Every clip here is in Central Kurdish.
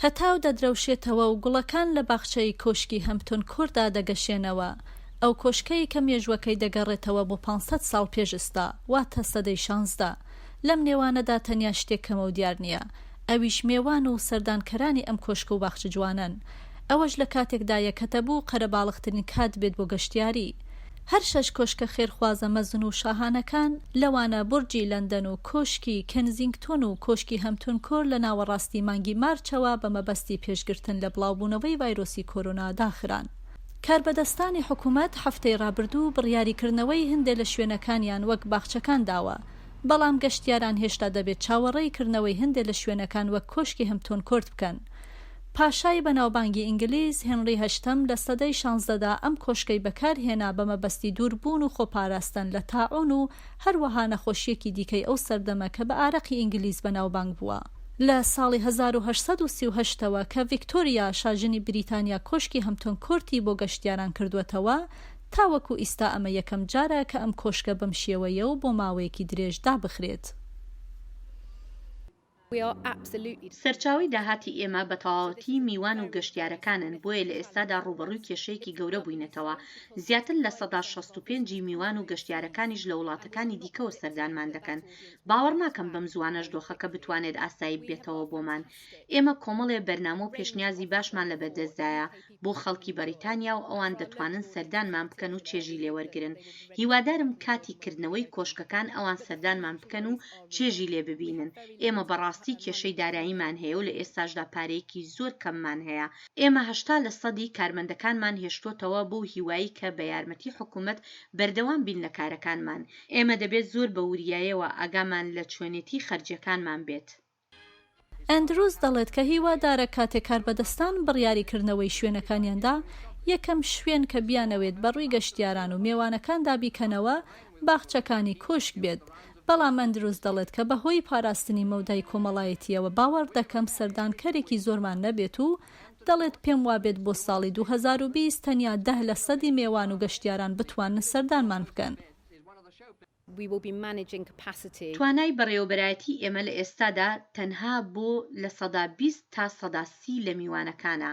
هەتاو دەدرەوشێتەوە و گوڵەکان لە باخچەی کۆشکی هەمپتون کۆرتدا دەگەشێنەوە، ئەو کۆشکەی کە مێژووەکەی دەگەڕێتەوە بۆ پانج سەد ساڵ پێش ئێستا، واتە سەدەی شانزدە. لەم نێوانەدا تەنیا شتێک کەمە و دیار نییە، ئەویش مێوان و سەردانکەرانی ئەم کۆشک و باخچە جوانەن. ئەوەش لە کاتێکدایە کە دەبوو قەرەباڵغترین کات بێت بۆ گەشتیاری. هەر شەش کۆشکە خێرخوازە مەزن و شاهانەکان، لەوانە بورجی لەندەن و کۆشکی کێنزینگتۆن و کۆشکی هەمتون کۆر لە ناوەڕاستی مانگی مارچەوە بە مەبەستی پێشگرتن لە بڵاوبوونەوەی ڤایرۆسی کۆرۆنا داخران. کاربەدەستانی حکومەت هەفتەی رابردوو بڕیاری کردنەوەی هەندێ لە شوێنەکانیان وەک باخچەکان داوە، بەڵام گەشتیاران هێشتا دەبێت چاوەڕێی کردنەوەی هەندێ لە شوێنەکان وەک کۆشکی هەمتۆن کۆرت بکەن. پاشای بەناوبانگی ئینگلیز، هێنڕی هەشتەم، لە سەدەی شانزدەدا ئەم کۆشکەی بەکارهێنا بە مەبەستی دووربوون و خۆپاراستن لە تاعوون و هەروەها نەخۆشییەکی دیکەی ئەو سەردەمە کە بە ئارەقی ئینگلیز بەناوبانگ بووە. لە ساڵی هەزار و هەشت سەد و سی و هەشت تەوە کە ڤیکتۆریا شاژنی بریتانیا کۆشکی هەمتۆن کۆرتی بۆ گەشتیاران کردووەتەوە، تاوەکو ئیستا ئەمە یەکەم جارە کە ئەم کۆشکە بەم شێوەیە و بۆ ماوەیەکی درێژ دابخرێت. سەرچاوەی داهاتی ئێمە بە تەواوەتی میوان و گەشتیارەکانن، بۆیە لە ئێستادا ڕووبەڕووی کێشەیەکی گەورە بووینەتەوە، زیاتر لە سەدا شەست و پێنج ی میوان و گەشتیارەکانیش لە وڵاتەکانی دیکەوە سەردانمان دەکەن، باوەڕناکەم بەم زووانەش دۆخەکە بتوانێت ئاسایی ببێتەوە بۆمان، ئێمە کۆمەڵێ بەرنامە و پێشنیازی باشمان لەبەردەستدایە، بۆ خەڵکی بەریتانیا و ئەوان دەتوانن سەردانمان بکەن و چێژی لێ وەرگرن. هیوادارم کاتی کردنەوەی کۆشکەکان ئەوان سەردانمان بکەن و چێژی لێ ببینن. ئێمە بەڕاستی کێشەی داراییمان هەیە و لە ئێستاشدا پارەیەکی زۆر کەممان هەیە. ئێمە هەشتا لە سەدی کارمەندەکانمان هێشتۆتەوە بەو هیوایی کە بە یارمەتی حکوومەت بەردەوام بین لە کارەکانمان. ئێمە دەبێت زۆر بە وریایەوە ئاگامان لە چۆنێتی خەرجییەکانمان بێت. ئەندروز دەڵێت کە هیوادارە کاتێک کاربەدەستان بڕیاری کردنەوەی شوێنەکانیان دا، یەکەم شوێن کە بیانەوێت بە ڕووی گەشتیاران و مێوانەکاندا بیکەنەوە باخچەکانی کۆشک بێت، بەڵام ئەندروز دەڵێت کە بەهۆی پاراستنی مەودای کۆمەڵایەتییەوە باوەڕدەکەم سەردانکەرێکی زۆرمان نەبێت و دەڵێت پێموابێت بۆ ساڵی دوو هەزار و بیست تەنیا دە لەسەدی مێوان و گەشتیاران بتوانن سەردانمان بکەن. We will be managing capacity. توانای بەڕێوەبەرایەتی ئێمە لە ئێستادا تەنها بۆ لە سەدا بیست تا سەدا سی لە میوانەکانە.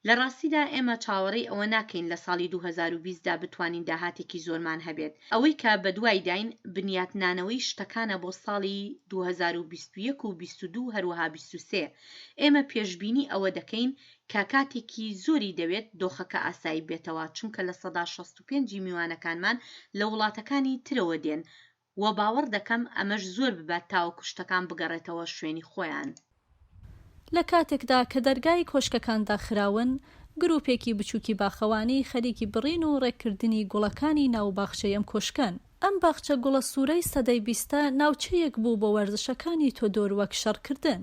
لە ڕاستیدا ئێمە چاوەڕێی ئەوە ناکەین لە ساڵی دوو هەزار و بیست دا بتوانین داهاتێکی زۆرمان هەبێت. ئەوەی کە بەدوایداین بنیاتنانەوەی شتەکانە بۆ ساڵی دوو هەزار و بیست و یەک و بیست و دوو هەروەها بیست و سێ. ئێمە پێشبینی ئەوە دەکەین کە کاتێکی زۆری دەوێت دۆخەکە ئاسایی بێتەوە، چونکە لە سەدا شەست و پێنج ی میوانەکانمان لە وڵاتەکانی ترەوە دێن و باوەڕ دەکەم ئەمەش زۆر ببات تاوەکو شتەکان بگەڕێتەوە شوێنی خۆیان. لە کاتێکدا کە دەرگای کۆشکەکان داخراون، گروپێکی بچوکی باخەوانی خەریکی بڕین و ڕێککردنی گوڵەکانی ناو باخچەی ئەم کۆشکەن. ئەم باخچە گوڵە سورەی سەدەی بیستە ناوچەیەک بوو بۆ وەرزشەکانی تۆدۆر وەک شەڕکردن.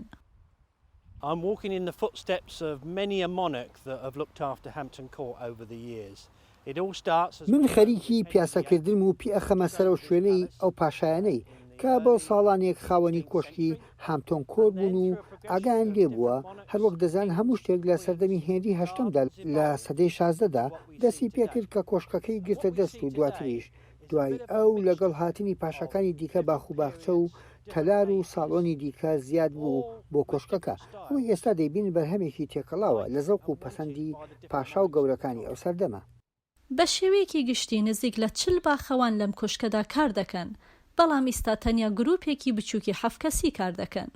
I'm walking in the footsteps of many a monarch that have looked after Hampton Court over the years. It all starts as من خەریکی پیاسەکردنم و پیئەخەمە سەرەو شوێنەی ئەو پاشایانەی کە بۆ ساڵانێک خاوەنی کۆشکی هامتۆن کۆر بوون و ئاگایان لێ بووە، هەروەک دەزان هەموو شتێک لە سەردەمی هێنری هەشتەمدا لە سەدەی شازدەدا دەستی پێکرد کە کۆشکەکەی گرتە دەست و دواتریش دوای ئەو لەگەڵ هاتنی پاشاکانی دیکە باخ و باخچە و تەلار و ساڵۆنی دیکە زیاد بوو بۆ کۆشکەکە، ئەوەی ئێستا دەیبینن بەرهەمێکی تێکەڵاوە لە زەوق و پەسەندی پاشا و گەورەکانی ئەو سەردەمە. بە شێوەیەکی گشتی نزیک لە چل باخەوان لەم کۆشکەدا کار دەکەن، بەڵام ئیستا تەنیا گرووپێکی بچووکی حەفت کەسی کار دەکەن.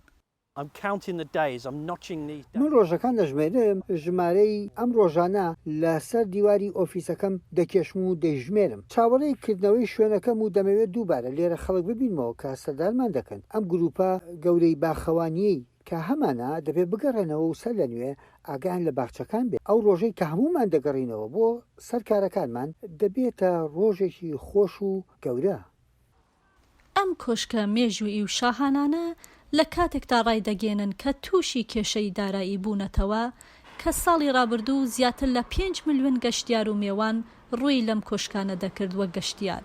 من ڕۆژەکان دەژمێرم، ژمارەی ئەم ڕۆژانە لە سەر دیواری ئۆفیسەکەم دەکێشم و دەیژمێرم. چاوەڕێی کردنەوەی شوێنەکەم و دەمەوێت دووبارە لێرە خەڵک ببینمەوە کە سەردارمان دەکەن. ئەم گرووپە گەورەی باخەوانییەی کە هەمانە، دەبێت بگەڕێنەوە و سەرلەنوێ ئاگایان لە باخچەکان بێت. ئەو ڕۆژەی کە هەموومان دەگەڕینەوە بۆ سەر کارەکانمان، دەبێتە ڕۆژێکی خۆش و گەورە. ئەم کۆشکە مێژوویی و شاهانانە لە کاتێکدا ڕایدەگەیەنن کە تووشی کێشەی دارایی بوونەتەوە کە ساڵی ڕابردوو زیاتر لە پێنج ملیۆن گەشتیار و مێوان ڕووی لەم کۆشکانە دەکرد وەک گەشتیار.